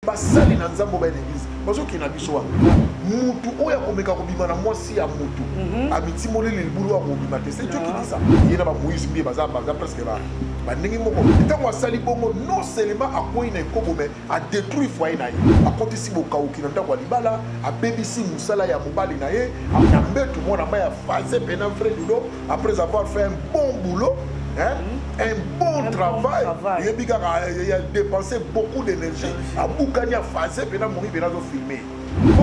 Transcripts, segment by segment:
basali na nzambe oba na eglise bazokenda biso wana mutu oyo akomeka kobima na mwasi ya mutu mhm. amitimoleli libulu ya kobima te se jokitisa ye na bamoise mbiye baza presque ba bandenge moko ntango asali bongo non seulement akwei na ekobo me adetruit foye na ye akotisi bokauki na ndako ya libala abebisi mosala ya mobali na ye na mbetu mwana mai ya faze pena vrai dudo après avoir fait un bon boulot hein? Mm-hmm. un bon un travail oyebi kaka ya dépense beaucoup d'énergie abukani ya faze pena momi pena azofilme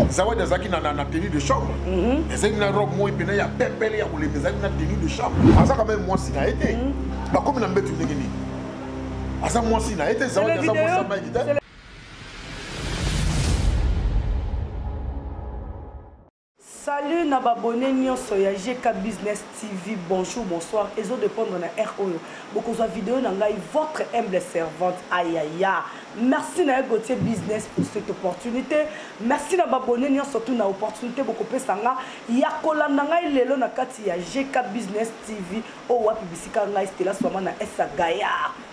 zawadi azalaki na tenue de chambre mm-hmm. ezalaki na robe moi pena ya pepele ya kolemba ezalaki na tenue de chambre aza quand même mwasi na ye te mm-hmm. bakomi na mbetu ndenge nini aza mwasi na ye te zawadi aza mwasi ya mike te salut na babone nyonso ya gk business tv bonjour bonsoir ezo dépendre na r oyo bokozwa video na ngai votre humble servante ayaya merci na ye gautier business pour cette opportunité merci na babone nyonso tu na opportunité bokopesa nga ya kolanda ngai lelo na kati ya gk business tv oyo wapi bisika ngai stela swama na esa gaya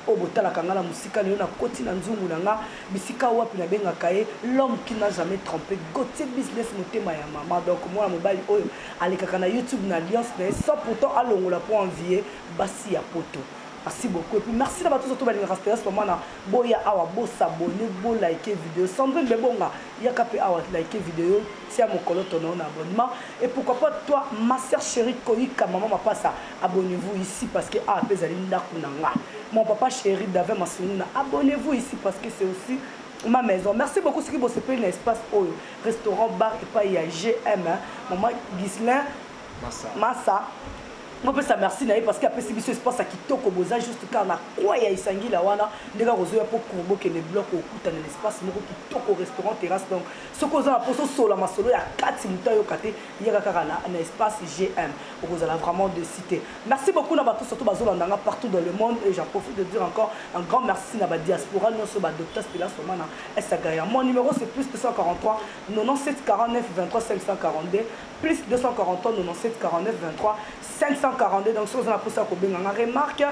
oyo botalaka ngai na mosika lelo nakoti na nzungu na nga bisika wapi nabengaka ye l'homme qui n'a jamais trompe gautier business motema ya mama donc mwana mobali oyo alekaka na youtube na alliance na ye sans pourtant alongola mpo envie basi ya poto merci beaucoup epuis merci na bato oso to balingaka stela swama na boya awa bosabone bolike video sandrine bebonga yaka mpe awa like video tia mokolo tono na abonnement et pourquoi pas toi ma sœur chérie koyika maman mapasa abonnez-vous ici parce que a ah, pe ezali ndako na nga mon papa chéri dave masunguna abonnez-vous ici parce que c'est aussi ma maison merci beaucoup soki bosepeli na espace oyo restaurant bar epai ya gm maman gislin masa bopesa merci na ye parce que apesi biso espace ya kitoko boza juste kaka na kwa ya esangila wana ndenge akozoya mpo courbo kende blok okutana na espace moko kitoko restaurant terrasse donc soki oza na mposa osola masolo ya kati moto ayoka te yaka kaka na, na espace gm okozala vraiment de cité merci beaucoup na bato surtout bazolanda nga partout dans le monde et j'en profite de dire encore un grand merci na badiaspora nyonso badocteur stela somana esagaya mon numéro c'est plus 243 97 49 23 542 plus 243 97 49 23 542 donc soki oza na mposa ya kobenga nga remarque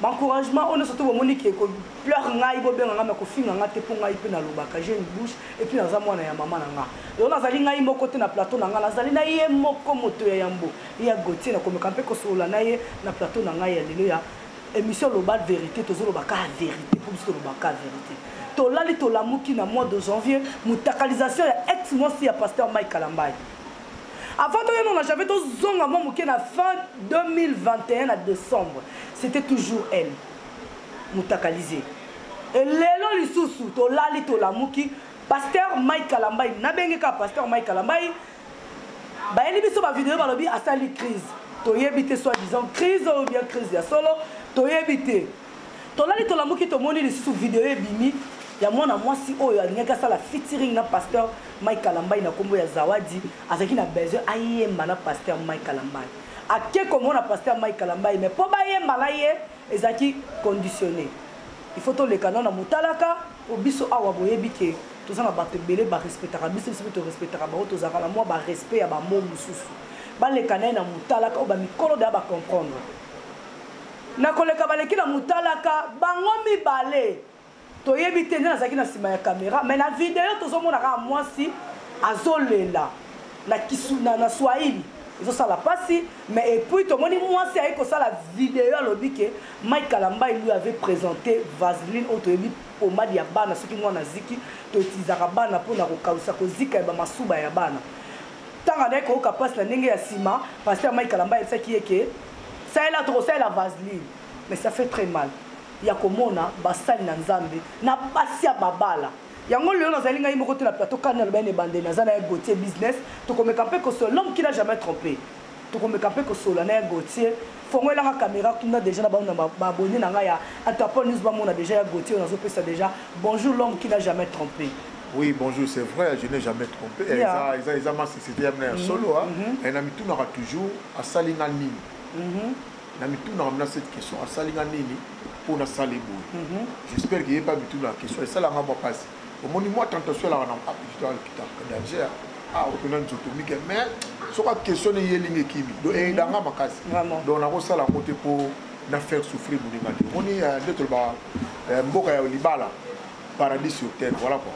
M'encouragement oyo nyoso to bomoni ke ko pleur ngai bo benga ngai mais kofinga ngai te po ngai pe nalobaka j'ai une bouche et puis naza mwana ya mama na ngai. Donc nazali ngai moko te na plateau na ngai nazali na ye moko moto ya yambo ya Gauthier nakomeka mpe kosolola na ye na plateau na ngai ya lelo ya émission loba vérité tozoloba ka vérité po biso toloba ka vérité tolali tolamuki na mois de janvier motakalisation ya ex mwasi ya pasteur Mike Kalambayi Avant de nous, j'avais tout zonga mon mouké na fin 2021 à décembre. C'était toujours elle. Moutakalisé. Et lelo lisusu to lali to lamuki pasteur Mike Kalambay na bengi ka pasteur Mike Kalambay bayeli biso ba vidéo balobi asali crise toyebi te soit disant crise ou bien crise ya solo toyebi te Tolali tolamuki tomoni lisusu video ebimi ya mwana mwasi oyo alingaki asala featuring na pasteur Mike Kalambayi na kombo ya Zawadi azalaki na besoin ayemba na pasteur Mike Kalambayi ake komona pasteur Mike Kalambayi mais po bayemba na ye ezalaki conditionné il faut toleka nao na motalaka po biso awa boyebi ke toza na bato ebele barespectaka biso biso mpe torespectaka bango tozalaka na mwa barespect ya bamo mosusu baleka na ye na motalaka oyo bamikolo deya bacomprendre Na koleka baleki na mutalaka bango mibale toyebi te nde nazalaki na nsima ya kamera me na video tozomona kaka mwasi azolela na, kisu, na, na swahili ezosala mpasi me epuis tomoni mwasi ayei kosala video alobi ke mike kalambai lui avait présente vaseline oyo toyebi pomade ya bana soki mwana aziki toetilizaka bana mpona kokausa kozika ya bamasuba ya bana ntango andaki koyoka mpasi na ndenge ya nsima paster mike kalamba ayebisaki ye ke salela tokosalela vaseline mais ça fait très mal ya komona basali na nzambe na mpasi ya mabala yango lelo nazali ngai moko te na plateau kani aloba ene ebandeli naza na ye gautier business tokomeka mpe kosolo l'homme qui n'a jamais trompé tokomeka mpe kosolola na ya gautier fongolelanga caméra kuna déjà na bango na baabonne na ngai ya atapol news bamona déjà ya gautier oyo nazopesa déjà bonjour l'homme qui n'a jamais trompé oui bonjour c'est vrai je n'ai jamais trompé eh, yeah. eza, eza, eza masisite ya mna ya mhm. solo mm -hmm. na mitunaka toujours asali nga nini mm -hmm. na mitunaka mna cette question asali nga nini mpo nasali boye mhm. j'espère que ye mpe amituna question esalanga mwa mpasi omoni mwa tentation elaka na apikito alokitaka danger ah opena nzoto mike mais soki aquestionne ye elingi ekimi do eyedanga mhm. makasi donc nakosala yango te mpo na faire souffrir moninga te omoni eh, nde toloba eh, mboka ya libala paradis sur terre voilà quoi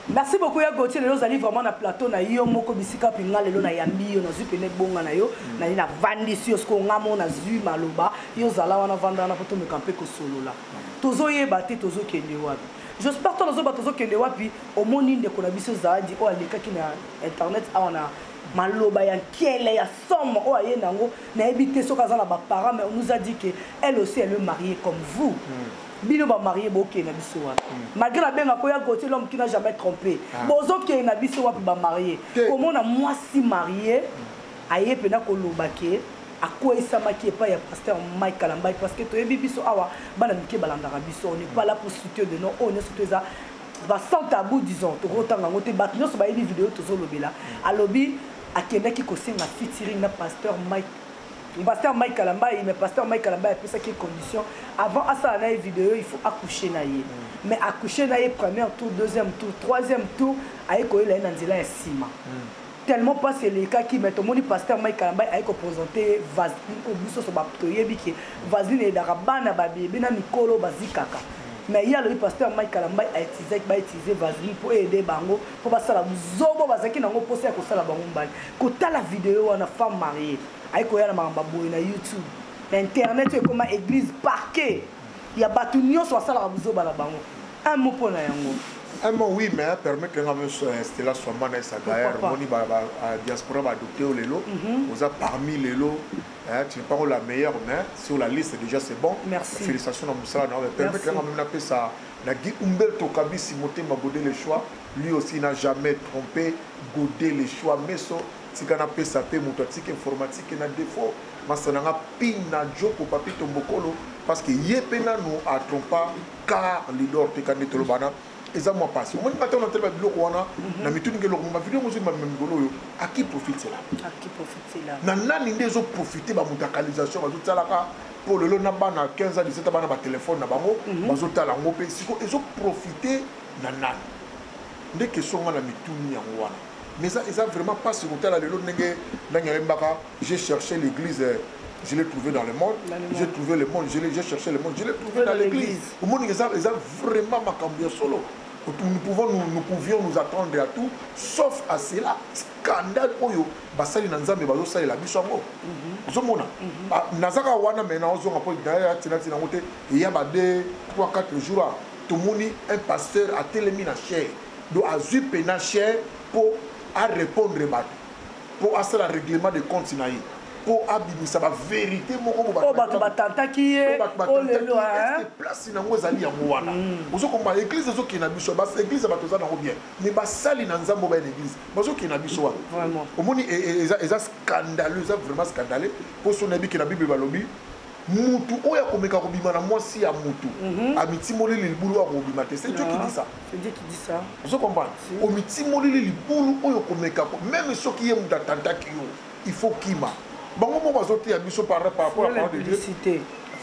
merci beaucoup ya gautier lelo ozali vraiment na plateau na yo moko bisika mpe nga lelo nayambi yo nazwi pene ebonga na yo mm. nali navandisi yo sikoyo nga moko nazwi maloba yo ozala wana vanda wana mpo tomeka mpe kosolola tozoyeba te tozokende wapi jospar to nazoba tozokende wapi omoni ndeko na biso zaadi oyo alekaki na internet awa na maloba ya nkele ya somo oyo aye na yango nayebi te soki aza na baparent mais nous a dit que elle aussi elle est mariée comme vous mm. bino bamarie bokende na biso wapi mm. malgré nabenga koya gautier l'homme qui n'a jamais trompé ah. bozokende na biso wapi bamarie komona mwasi marie mm. aye mpena koloba ke akweisamaki epai ya pasteur mike kalambai parce que toyebi biso awa bana mike balandaka biso on n'est pas là pour souter de nom oyo nyonso to eza ba sans tabou disons tokotanga yango te bato nyonso bayebi video tozolobela alobi akendaki kosenga featuring na pasteur mike pasteur mike kalambai mais pasteur mike kalambai apesaki ye condition avant asala na ye video il faut accoucher na ye mais accoucher na ye première tour deuxième tour troisième tour aye koyela ye na nzela ya nsima mm. tellement pasi elekaki mais tomoni pasteur mike kalambay aye kopresente vaseline oyo biso so toyebi ke vaseline eyedaka bana babebe na mikolo bazikaka mais ye alobi pasteur mike kalambay autizaki bautilize vaseline mpo eyede bango mpo basala buzobo bazalaki nango mposa ya kosala bango mbali kotala video wana femme marie aye koya na makambo boye na youtube na internet oyo ekoma église parquet ya bato nyonso basalaka buzoba na bango un mot mpo na yango un mot oui mais permettre nga monsieur euh, Stella Swamba na Sagaer moni ba, ba euh, diaspora ba adopté au lelo mhm. oza parmi lelo hein, tu n'es pas la meilleure mais sur la liste déjà c'est bon Merci. félicitations na musala na permettre nga même na pesa na Guy Umberto Kabisi motema godé le choix lui aussi n'a jamais trompé godé le choix mais so tika na pesa pe moto atika informatique na defaut masta na nga pin na joko papito mbokolo parce que ye pe nanu a trompa car lidor te ka nde tolobana eza mwa pasi omoni nga ntango nataleba biloko wana mhm. na mituni nge eloko bavideo yango ozwi bamema mikolo oyo aki profitela na nani nde ezoprofite bamutakalisation bazotalaka mpo lelo na bana 15 ans 17 bana batelefone na bango mhm. bazotala yango mpe siko ezoprofite na nani nde kesonga na mituni yango wana mais ça eza vraiment pas pasi kotala lelo ndenge ndenge ayembaka j'ai cherché l'église euh, je l'ai trouvé dans le monde j'ai trouvé le monde j'ai cherché le monde je l'ai trouvé dans l'église omoni eza eza vraiment makambo ya solo nous pouvons nous, nous pouvions nous attendre à tout sauf à cela scandale oyo basali na nzambe bazosalela biso yango mhm. ozomona mhm. ah, nazaka wana mai naozonga mpo daya tinatina yango te eya ba 2 3 4 jours tomoni un pasteur atelemi na chaire do azui pena cher po a repondre bato po asala règlement de compte na ye po abimisa ba verité moko bo bato bato batantaki ye o lelo hein place na ngo ezali yango wana hmm. ozo komba église ezo kina biso ba église bato za na ngo bien mais ba sali na nzambo ba église bazo kina biso wana vraiment omoni eza eza scandaleux eza vraiment scandaleux po so na biki na bible balobi mutu oyo akomeka kobima na mwasi ya mutu mhm. amitimoleli libulu oyo akobima te c'est dieu qui dit ça ah, ozo comprendre omitimoleli libulu oyo okomeka meme soki ye mutu atantaki yo il faut kima bango moko bazoteya biso par rapport à parole de dieu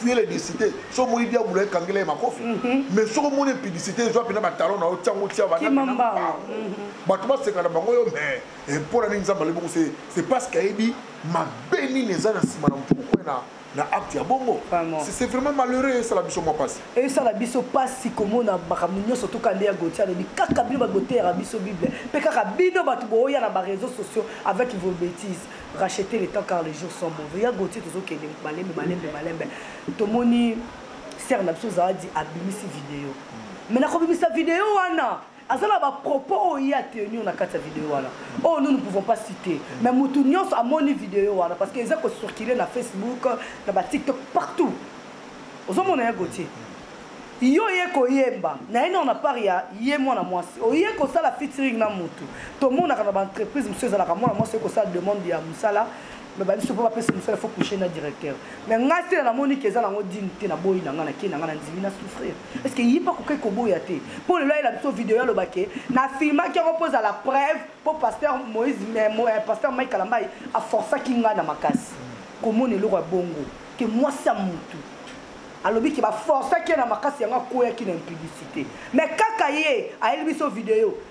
fuyela edesite so omoni diabula ekangela ye makofi mhm. mais soki omoni publicité ezwa mpena batalon na yo tiango tia bato basekana bango yo mais eh, mpo na nini nzambe aleboko c'est parce que ayebi mabe nini eza na nsima na mpokue na na acte ya bongo c'est vraiment malheureux esala biso mwa mpasi esala biso mpasi komona makambo nyonso toka nde ya goti alobi kaka bino bato boteyaka biso bible mpe kaka bino bato booya na bareseau sociaux avec vos bêtises racheter le temps car les jours sont mauvais ya goti tozokende malembe malembe malembe tomoni ser na biso zawadi abimisi video mai nakobimisa video wana aza na bapropos oyo ye atenir na kati ya video wana oyo oh, nous ne pouvons pas citer mais motu nyonso amoni video wana parce que eza kocircule na facebook na batiktok partout ozomona ya gotier yo oye koyemba na ye nao na part ya ye mwana mwasi oye kosala featuring na motu tomonaka na baentreprise mosusu ezalaka mwana mwasi oye kosala demande ya mosala mais babiso mpo bapesa mosala fo couche na directeur mais ngai sela namoni ke eza nango dine te naboyi na ngai nakei na ngai nandimi na souffrir est ce que ye mpe akokai koboya te mpo lelo ayela biso video aloba ke na filmaki yango mpo ezala preuve mpo pasteur moïse eh, eh, pasteur mike kalambai aforcaki ngai na makasi komona eloko ya bongo ke mwasi ya motu alobi ke baforcaki ye na makasi yango akweyaki na impudicité mais kaka ye ayeli biso video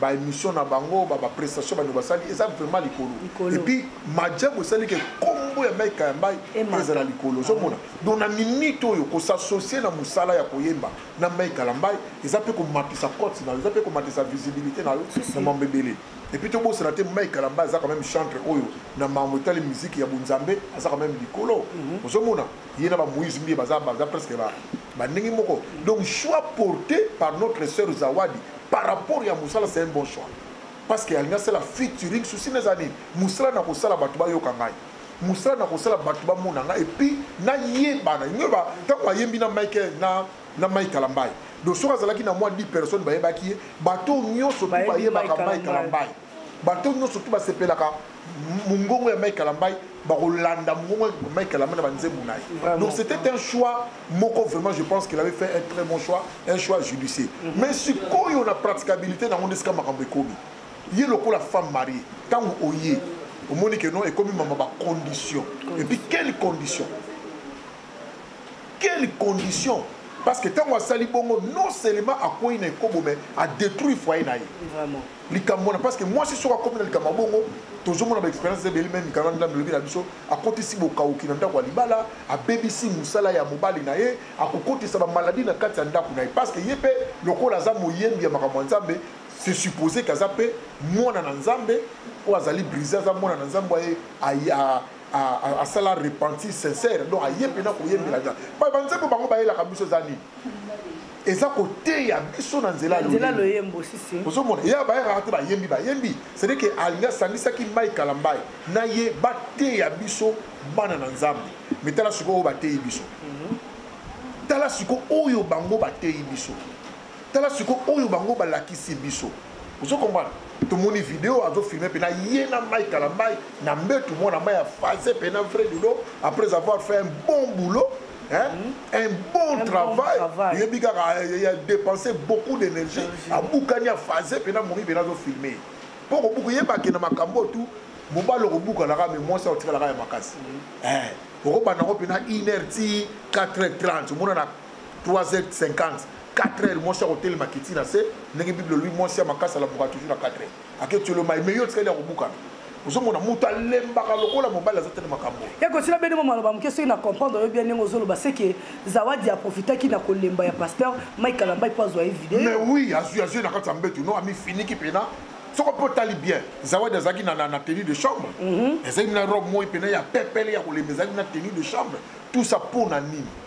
ba émission na bango ba ba prestation bano basali eza vraiment likolo et puis majabu esali ke kombo ya Mike Kayambai ezala likolo ozomona ah. donc na minute oyo ko s'associer na musala ya koyemba na Mike Kayambai eza pe ko matisa cote na eza pe ko matisa visibilité na yo na mambo ebele et puis tobosana te Mike Kayambai aza quand même chantre oyo na mambo etali musique ya bunzambe aza quand même likolo mhm. ozomona ye na ba Moïse Mbiye baza baza presque ba ba ndenge moko donc choix porté par notre sœur Zawadi par rapport ya musala c'est un bon choix parce que alingi asala featuring souci na eza nini musala na kosala bato bayoka ngai musala na kosala bato bamona ngai epuis nayebana inge ba ntango ayembi na mike na na mike kalambai donc soki azalaki na mwa 10 personnes bayebaki ye bato nyonso tu bayebaka mike kalambai bato nyonso soki basepelaka mongongo ya mike kalambai bakolanda mongongo ya mike kalambai na banzembo na ye donc c'était un choix moko vraiment je pense qu'il avait fait un très bon choix un choix judicieux mm -hmm. mais sikoyo na praticabilité nango nde sika makambo ekomi ye lokola femme marie ntango oye omoni ke non ekomi mama bacondition epuis quelle condition quelle condition parce que ntango asali bongo non seulement akwei na ekobo mais adétruire foyer na ye likambo wana parce que mwasi soki akomi na likambo ya bongo tozomona baexpérience eza ebele meme mikano ndambe elobi na biso akotisi bokauki na ndako ya libala abebisi mosala ya mobali na ye akokotisa bamaladi na kati ya ndako na ye parce que ye mpe lokola aza moyembi ya makambo ya nzambe se suppose ke aza mpe mwana na nzambe oyo azali brise aza mwana na nzambe aye asala repentir sincère donc aye mpena koyembela nzambe baye banzambe bango bayelaka biso eza nini eza koteya biso na nzela ozomona ye bayekaka te bayembi bayembi cestadi ke alingi asangisaki mai kalambai na ye bateya biso bana na nzambe me tala sikoyo oyo bateyi biso mhm. tala sikoyo oyo bango bateyi biso tala sikoyo oyo bango balakisi biso ozo comprendre tomoni video azofilme mpena ye na mai kalambai na mbetu mwana mai ya fase mpena vrai ludo après avoir fait un bon boulot Hein? Mhm. un bon un travail oyebi kaka eh, ya dépense beaucoup d'énergie abukani afase mpena momi mpena azofilme mpo kobuka oyebake na makambo oyo tu mobali okobukanaka me mwasi akotikalaka ya makasi mhm. eh, okobanda yango mpena 1 heure ti 4 heure 30 omona na 3h50 4h mwasi akotelema kiti na se ndenge bible olobi mwasi ya makasi alamuka toujours na 4h aketiolo mai me yo otikali ya kobukana ozomona moto alembaka lokola mobali aza te na makambo ekosila bene mama aloba moke soki na comprendre oyo bia ndenge ozoloba seke zawadi aprofitaki na kolemba ya pasteur mike kalambai mpo azwa ye video mais oui azwi azwi na kati ya mbetu no amifiniki mpena soko mpe otali bien zawadi azalaki na, na, na tenue de chambre mhm. ezalaki na robe moi mpena ya pepele ya kolemba ezalaki na tenue de chambre tout ça mpo na nini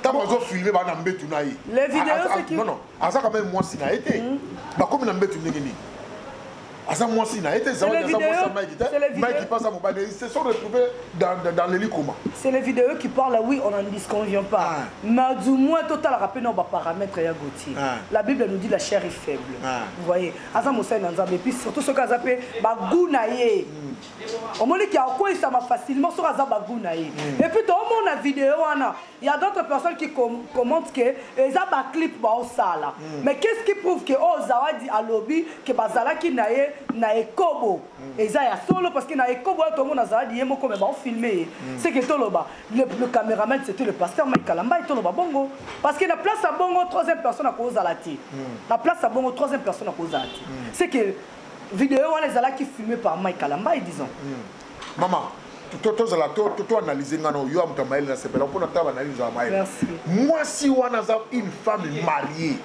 ntango azo filme baa na mbetu na ye non non aza quand même mwasi na ye te hmm. bakomi na mbetu ndenge nini aza mwasi na ye te zawadi aza mwasi ya mike te mike mpe aza mobali se sont retrouvé dans le likoma c'est les vidéos qui parle oui on n'en disconvient pas ah. mais du moins totalaka mpe na baparamètre ya gautier ah. la bible nous dit la chair est faible ah. vous voyez aza mosali na nzambe epuis surtout soki aza mpe bagout na ye mm. omoni ke akweyisama facilement soki aza bagu na ye mm. epuis toomona video wana ya d'autres personnes qui commente ke eza baclip baosala mm. mais qu'est ce qui prouve ke oyo oh, zawadi alobi ke bazalaki na ye na ekobo mm. eza ya solo parce que na ekobo oyo tomona zawadi ye moko me baofilme ye ce ke toloba le cameraman c'était le pasteur mike kalambai toloba bongo parce que na place ya bongo troisième personne akozala te na place ya bongo troisième personne akozala te ce ke Video wana ezalaki filmé par Mike Kalambay disons. Hmm. Maman, tozala toanalyse nga na oyo ya moto ya mayele nasepela mpo na tala banalyse ya mayele mwasi wana aza une femme mariée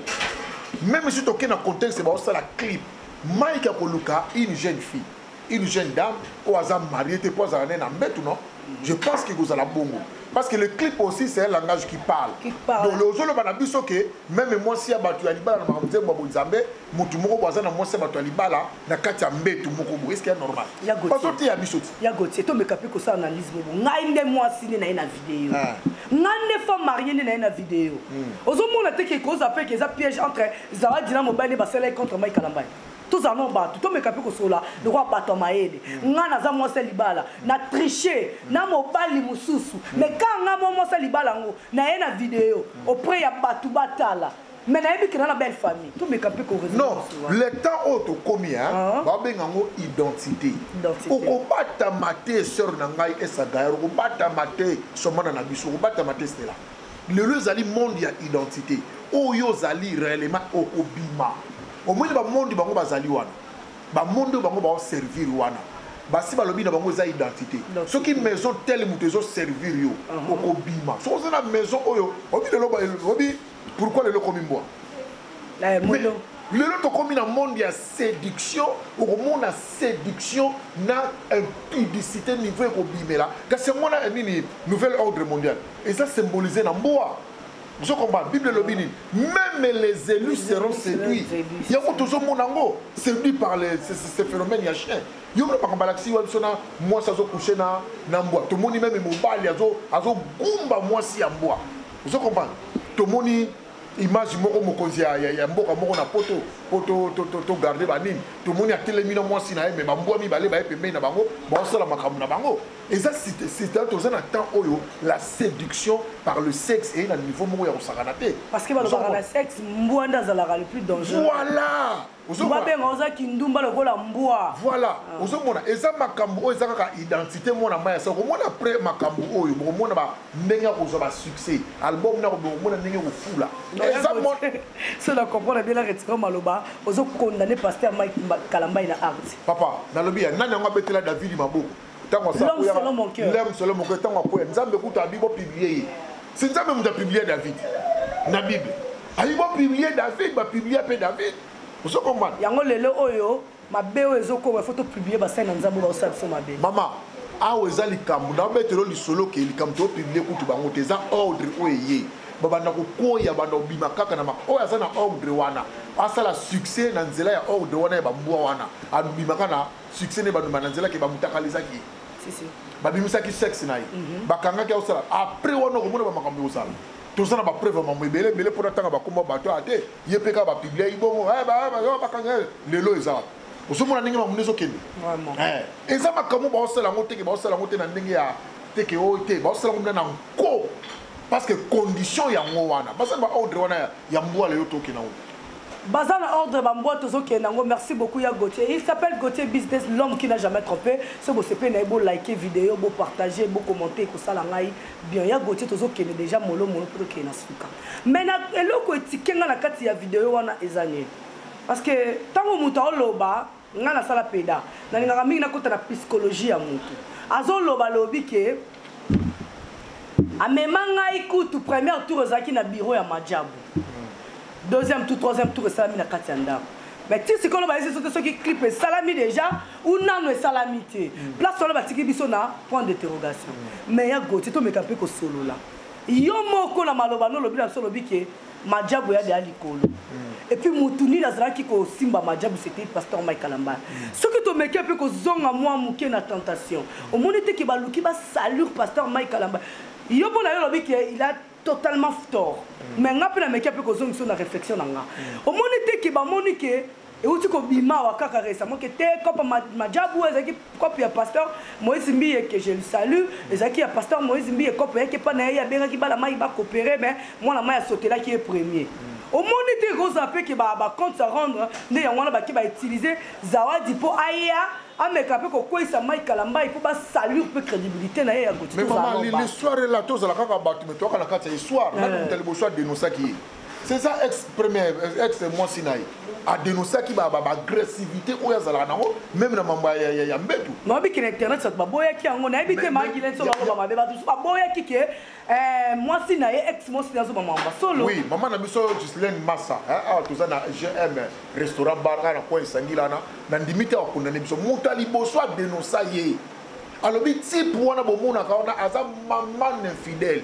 même si toke na contexte baosala clip mike akoluka une jeune fille une jeune dame oyo aza mariée te mpo azala ne na mbetu non je pense que kozala bongo parce que le clip aussi c'est un langage qui parle, qui parle. donc ozoloba na biso ke meme mwasi ya bato ya libala na makambo nzembo ya bonzambe motu moko bo aza na mwasi ya bato ya libala na kati ya mbetu moko bo eske ya normal bazoteya biso ti ya gotie tomeka mpe kosala analyse bobo ngai nde mwasi nde na ye na video ah. ngai nde femme marie nde na ye na video hmm. ozomona te ke koza mpe ke eza piège entre zawadi na mobali nde basalaki contre mai kalambai tozala no bato tomeka mpe kosolola lokola bato ya mayele hmm. ngai naza mwasi ya libala na triche na mobali mosusu mais hmm. kaka ngai mwa mwasi ya libala yango na ye na video auprès ya bato batala mais nayebi kena na belle famille tomeka mpe non le temps oyo tokomi a ah. babenga yango identité okobatama te sœur na ngai esagayer okobatama te somana na biso okobatama te stela lelo ezali monde ya identité oyo ozali réellement okobima omoni bamondi bango bazali wana bamondi oyo bango baoservir wana basi balobi na bango eza identité soki maison tele moto ezoservir yo uh-huh. okobima soki oza na maison oyo obi lelo obi pourquoi lelo okomi mbwa eh, lelo tokomi na monde ya séduction okomona séduction na impudicité niveau ekobimela kasi yango wana nini nouvel ordre mondial eza symbolise na mbwa ozo comprendre bible elobi nini même les élus seront séduits yango tozomona yango séduit par ce phénomène ya chien yo mpe makambo alakisi yo biso na mwasi azokushe na mbwa tomoni meme mobali azogumba mwasi ya mbwa ozo comprendre tomoni image moko mokonzi ya, ya, ya mboka moko na poto po togarde to, to, to banini tomoni atelemi na mwasi na ye me bambwa mibale baye pembeni na bango baosala makambo na bango eza sita toza na temps oyo la séduction par le sexe eye na niveau moko ya kosakana te parce que balobaka na sexe mbwa nde azalaka le plus dangereux voilà babenga oza kindumba lokola mbwa voilà ah. ozomona eza makambo oyo eza kaka identité mwana mai ya soko omona après makambo oyo bokomona ndenge ya kozwa basuccès album nako bokomona ndenge kofula so na comprendre bien naretika maloba ozokondane paster mike kalambai na art papa nalobi ya nani yango abetela davidi maboko ntango asalelhomme solo moko ntango akwea nzambe kutu abi bopiblie ye si nzambe moto apiblie david na bible ayi bopiblie david bapiblia mpe david ozokomana yango lelo oyo mabe oyo ezokoma fo topiblie basali na nzambe baosala biso mabe mama awa eza likambo nabetelo lisolo ke likambo topiblie kutu bango te eza ordre oyo eye babanda kokoya banda kobima kaka na oyo aza na ordre wana asala succès na nzela ya ordre wana ya bambwa wana abimaka na succès ne banduma na nzela ke bamutakalizaki ye babimisaki sexe na ye mhm. bakangaki akosala après wana okomona bamakambo ekozala toza na bapreuve ya mambo ebele ebele mpo natanga bakoma bato ya te ye mpe kaka bapiblia ye bongo eh, eh, bakanga eh, lelo eza wapi ozomona ndenge mamundi ezokende eza makambo baosala yango teke baosala yango te na ndenge ya teke oyo te baosala yango na nko parce que condition yango wana baza na baordre wana ya mbwala yo toke na yango baza na ordre bambwa tozokende yango merci beaucoup ya gautier il s'appelle gautier business l'homme qui n'a jamais trompé so bosepeli na ye bolike video bopartage bocommente ekosala ngai bien ya gautier tozokende déjà molomolo mpo tokende na suka mai na eloko etike ngai na kati ya video wana eza nini parce que ntango moto aoloba nga nasala peda nalingaka mingi nakota na psychologie ya motu azoloba lobi ke amema ngai kutu première tour ezalaki na biro ya majabu deuxième tour troisième tour esalami na kati ya ndako mais ti sikoyo loba esi soki soki clip esalami déjà ou nano esalami te mm. place wana batiki biso na point d'interrogation mm. mais ya goti tomeka mpe kosolola yo moko na maloba no olobi na biso olobi ke majabu ya ya likolo mm. epuis motu nini azalaki kosimba majabu c'était pasteur mike kalambala mm. soki tomeki mpe kozonga mwa moke na tentation omoni te ke baluki basalure pasteur mike kalambala yo mpo na yo olobi ke il a totalement tort mm. mais nga mpe nameki mpe kozongisa na réflexion na nga omoni te ke bamoni ke euti kobima awa kaka récemment ke te cope majabu ezalaki cope ya pasteur moïse mbiye ke je le salue ezalaki ya pasteur moïse mbiye cope yaki epai na ye abengaki bana mai bacoopere mais mwana mai asotelaki ye premier omoni te ekozala mpe ke bacompte à rendre nde yango wana bake bautilize zawadi mpo aya ameka mpe kokweisa mai kalambai mpo basalure mpe crédibilité na ye ya gotihistoire ela tozala kaka bato me toyaka na kati ya histoire nani moto ya liboso adenosaki ye c'est ça ex premier ex mwasi na ye adenosaki baagressivité oyo azalaka nango meme na mambo ya mbetu nabiki na internet bato baboyaki yango nayebi te magilenso baloba mabe bato mosusu baboyaki ke eh, mwasi na ye ex mwasi na azoba mamba solo oui mama na biso gislaine massa awa toza na gm restaurant bar na coin esangila wana na ndimi te akondane biso moto ya liboso adenosa ye alobi type wana bomonaka wana aza maman infidèle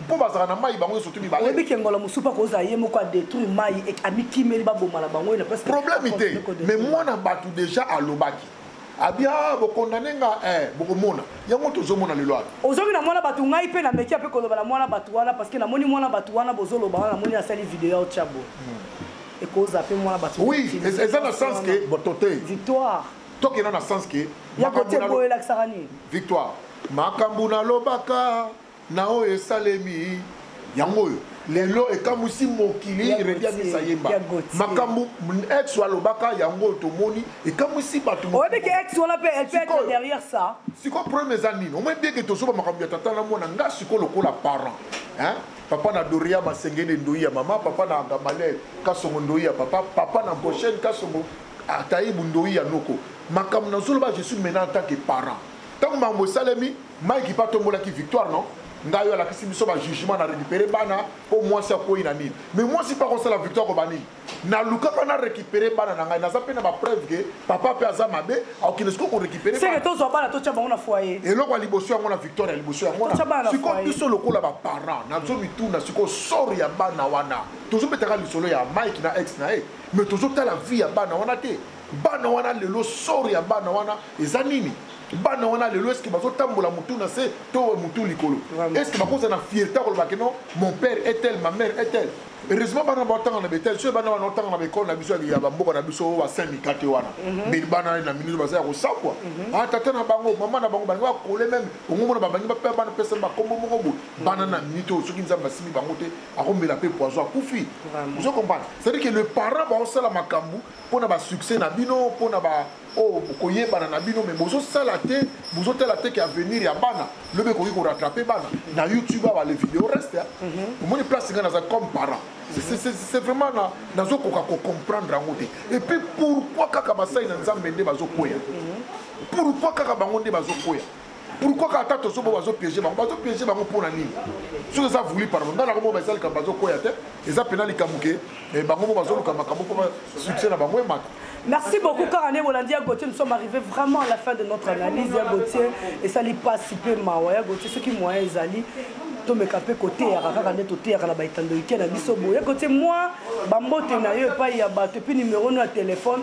mpo bazalaka na mai bango nyonso to mibale oyebi ke ngolo mosusu mpo akozala ye moko adétruire mai amikimeli baboma na bango na place problème te mais mwana bato déjà alobaki abia ah, bokondane nga eh, bokomona yango tozomona lelo ato ozongi na mwana bato ngai mpe nameki mpe koloba na mwana bato wana parce que namoni mwana bato wana bozoloba wana namoni asali video ya ochabo hmm. ekoza mpe mwana bato oui eza na sens ke boto te victoire tokenda na sens ke ya kote boyo elakisaka nini victoire makambo nalobaka Na oyo esalemi yango oyo lelo ekamwisi mokili redi amisa yemba makambo ex alobaka yango oyo tomoni ekamwisi bato sikoyo problème eza nini omoi bieke tozoba makambo ya tata na mwana nga sikoyo lokola parent papa na doria masengele ndoi ya mama papa na gamalel kasongo ndoi ya papa papa na goshene kasongo ataibu ndoi ya noko makambo nazoloba je suis maintenant en tant que parent ntango makambo esalemi Mike pa tombolaki victoire non ngai yo alakisi biso ba jugement na récupérer bana mpo mwasi akwei na nini mais mwasi mpe akosala victoire koba nini nalukaka na récupérer bana na ngai naza mpe na bapreuve ke papa mpe aza mabe akokende sikoyo korécupéreseke tozwa bana totya bango na foyer eloko ya liboso yango na victoire ya liboso yango sikoyo biso lokola baparent nazo mituna sikoyo sor ya bana wana tozobetaka lisolo ya mike na ex na ye mais tozotala vie ya bana wana te bana wana lelo sor ya bana wana eza nini bana wana lelo eske bazotambola motu na se to motu likolo eske bakozala na fierte akoloba ke non mon père est tel ma mère est tel heureusement bana baotanga na betel soki bana wana otanga na baekole na biso ya bamboka na biso ba syndicat te wana mhm. mais bana na minute baza ya kosakwa mhm. ah, tata na bango mama na bango balingi bakole meme ongomona babangi bape bana pesa bakombo moko boye mhm. bana na minute oyo soki nzambe asimbi bango te akomela mpe poison akufi ozo comprendre c'est à dire que le parent baosala makambo mpo na basuccès na bino mpo na ba oyo bokoyebana na bino me bozosala te bozotala te ke avenir ya bana lobi ekoki korattrape bana na youtube awa le video reste mhm. omoni place ngai naza comme parent c'est vraiment nazokoka kocomprendre yango te et puis pourquoi kaka basali na nzambe nde bazokweya mhm. pourquoi kaka bango nde bazokweya pourquoi kaka ata tozo bo bazo piéger bango bazo piéger bango mpo na nini soki eza voulu par bango ngai nakomona eza likambo bazokwea te eza mpena likambo ke eh, bango mo bazoluka makambo mpo succès na bango emata Merci beaucoup car année Bolandi Gauthier nous sommes arrivés vraiment à la fin de notre analyse ya Gauthier et ça li pas si peu mawa ya Gauthier ce qui moyen ezali tomeka mpe koteyaka kaka nde toteyaka na baetandoike na biso boye kote mwa bambote na yo epai ya bato epuis nimero no ya telefone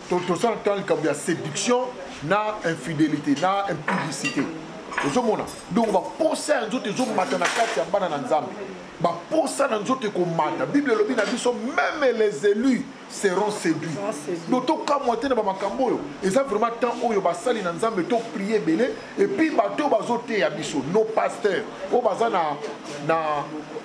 tosala ntango likambo ya séduction na infidélité na impudicité ozomona donc baposa ya nzoto ezomata na kati ya bana na nzambe baposa na nzoto ekomata bible elobi na biso meme les élus seront séduits donc tokamwa te na bamakambo oyo eza vraiment temps oyo basali na nzambe toprie ebele epuis bato oyo bazoteya biso nos pasteurs oyo baza na, na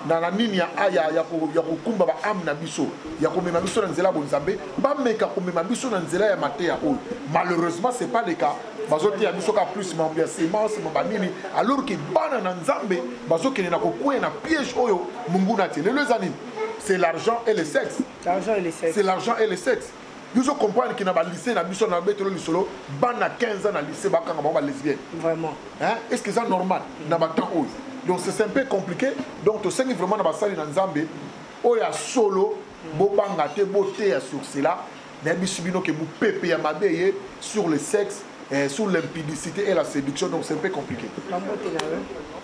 na na nini ya, ya, ya, ya kokumba baame na biso ya komema biso na nzela ya bonzambe bameka komema biso na nzela ya mateya oyo malheureusement c'est pas le cas bazoteya biso ka plus mambo ya semence mamba nini alors ke bana na nzambe bazokende na kokweya na piège oyo monguna atie lelo eza nini c'est l'argent et le sexe c'est l'argent et le sexe biso comprendre ke na balycée na biso na betelo lisolo bana 15 ans na lycée bakanga bango balesbienne vraiment hein? est ce que eza normal mm. na batemp oyo donc c'est un peu compliqué donc tosengi vraiment na basali na nzambe oyo ya solo bobanga te boteya sur cela nayebisi bino ke mopepe ya mabe eye sur le sexe eh, sur l'impudicité et la séduction donc c'est un peu compliqué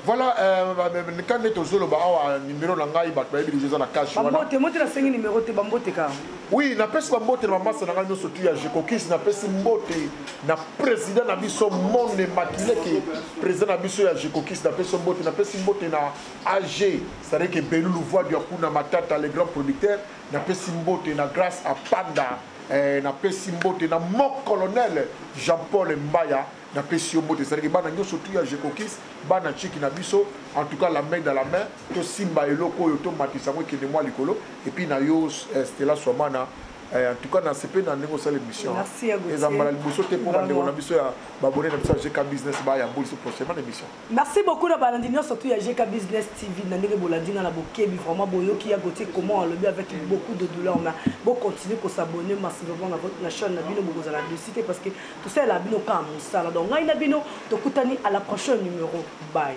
voilà euh, bah, bah, bah, kande tozoloba awa numero na ngai bato bayebi deja eza na cash wanamote nasengi numero te bambote ka oui napesi bambote na bamasa na ngai nyonso tu ya jekokisi napesi mbote na président na biso monde makileke président na biso ya jekokisi napesi mbote napesi mbote na AG, c'est-à-dire que Belulu voix du Akuna Matata, le grand producteur, na pesi mbote na grâce à Panda, eh, na pesi mbote na mon colonel Jean-Paul Mbaya, na pesi yo mbote, c'est-à-dire que bana nyoso tout ya Jekokis, bana chiki na biso, en tout cas la main dans la main, to simba eloko oyo to matisa ngo kende mwa likolo, et puis na yo eh, Stella Swamana, eh, en tout cas nasepe na ndenge osala émission eza mbala liboso te mpo bandeko na biso ya babone na biso ya gk business bayamboli so prochainement na émission Merci beaucoup na balandi nionso tout ya GK Business TV na ndenge bolandi nga na bokebi vraiment boyoki ya Gauthier comment alobi avec beaucoup de douleur mais bo continuer ko s'abonner massivement na votre na chaîne na bino bokozala dessus te parce que tout ça la bino ka musala donc ngai na bino tokutani à la prochaine numéro bye